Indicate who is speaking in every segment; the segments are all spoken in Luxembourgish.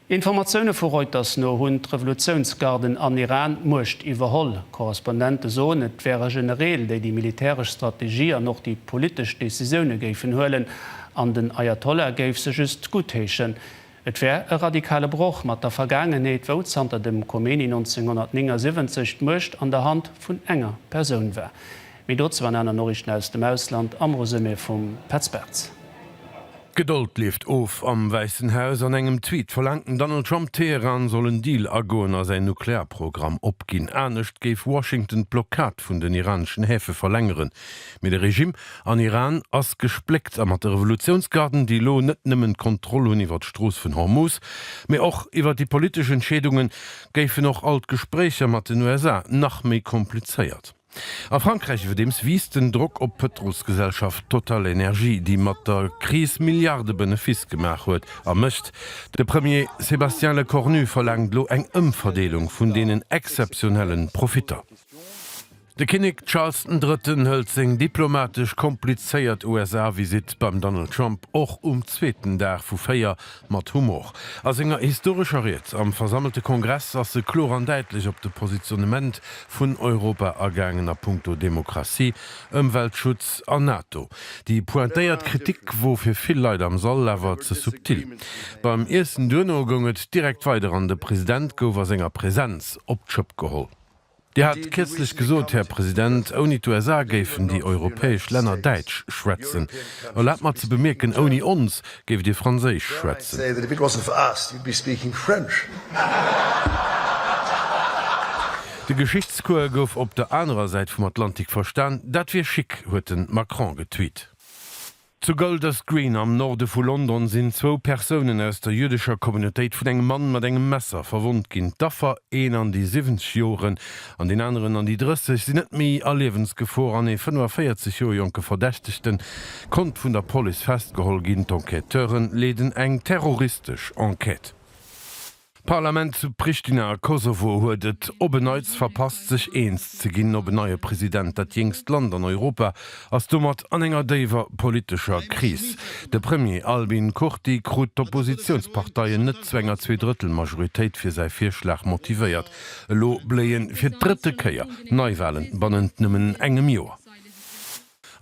Speaker 1: Informatioune vu Reuters no hunn d'Revolutiounsgarden an Iran d'Muecht iwwerholl. Korrespondente soen, et wäre Genereel, déi déi militäresch Strategie an och déi politesch Decisioune géifen huelen, an den Ayatollah géif se just guttheeschen. Et wär e radikale Broch mat der Vergaangenheet, wou zanter dem Khomeini 1979 d'Muecht an der Hand vun enger Persoun war. Méi dozou an aner Noriichten aus dem Ausland am Resumé vum Petz Bartz. D'Gedold
Speaker 2: leeft of, Am Wäissen Haus An engem Tweet verlaangt den Donald Trump, Teheran soll en Deal agoen a säin Nuklearprogramm opginn. Anescht géif Washington d'Blockad vun den iraneschen Häfe verlängeren. Mee de Regimm an Iran ass gespléckt a mat de Revolutiounsgarden, déi elo net nëmmen d'Kontroll hunn iwwer d'Strooss vun Hormuz, mee och iwwer déi politesch Entscheedungen, géifen och all d'Gespréicher mat den USA nach méi komplizéiert. A Frankräich iwwerdeems wiisst den Drock op d'Pëtrolsgesellschaft TotalEnergies, déi mat der Kris Milliarde-Benefiss gemaach huet a mécht. De Premier Sébastien Lecornu verlaangt elo eng Ëmverdeelung vun deenen exzeptionelle Profitter. De Kinnek Charles den Drëtten hëlt seng diplomatesch komplizéiert USA-Visitt beim Donald Trump och um zweeten Dag vu véier Mat Humor. A senger historescher Ried am versammelte Kongress ass e kloer an däitlech op de Positionnement vun Europa agaangen a punkto Demokratie, Ëmweltschutz an NATO. Déi pointéiert Kritik wor fir vill Leit am Sall awer ze subtil. Beim Iessen duerno goung et direkt weider an de President gouf a senger Presenz op d'Schëpp geholl. Dir hat kierzlech gesot, Här President, ouni d'USA géifen déi europäesch Länner Däitsch schwätzen. Erlaabt mer ze bemierken, ouni ons géift Dir Franséisch schwätzen. De Geschichtscours gouf op der anerer Säit vum Atlantik verstan. Dat wier chic, huet de Macron getweet. Zu Golders Green am Norde vu London sinn zwou Persounen aus der jüdescher Communautéit vun engem Mann mat engem Messer verwonnt ginn. D'Affer, een an déi 70 Joren an deen aneren an déi 30, sinn net méi a Liewensgefor an ee 45 Joer jonke Verdächtegte konnt vun der Police festgeholl ginn. D'Enquêteure leeden eng terroristesch Enquête. D'Parlament zu Pristina a Kosovo huet et op en Neits verpasst, sech eens ze ginn op en neie President. Dat jéngst Land an Europa ass domat an enger déiwer politescher Kris. De Premier Albin Kurti krut d'Oppositiounsparteien net zu enger Zweedrëttelmajoritéit fir säi Virschlag motivéiert. Elo bléie fir d'drëtte Kéier Neiwalen bannent nëmmen engem Joer.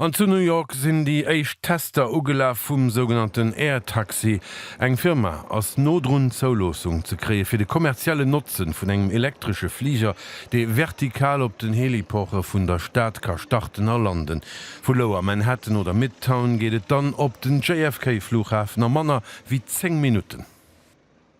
Speaker 2: An zu New York sinn déi éischt Tester ugelaf vum sougenannten Air Taxi. Eng Firma ass no drun, d'Zouloossung ze kréie fir de kommerziellen Notzen vun engem elektresche Fliger, dee vertikal op den Heliporte vun der Stad ka starten a landen. Vu Lower Manhattan oder Midtown geet et dann op den JFK-Flughafen a manner wéi 10 Minutten.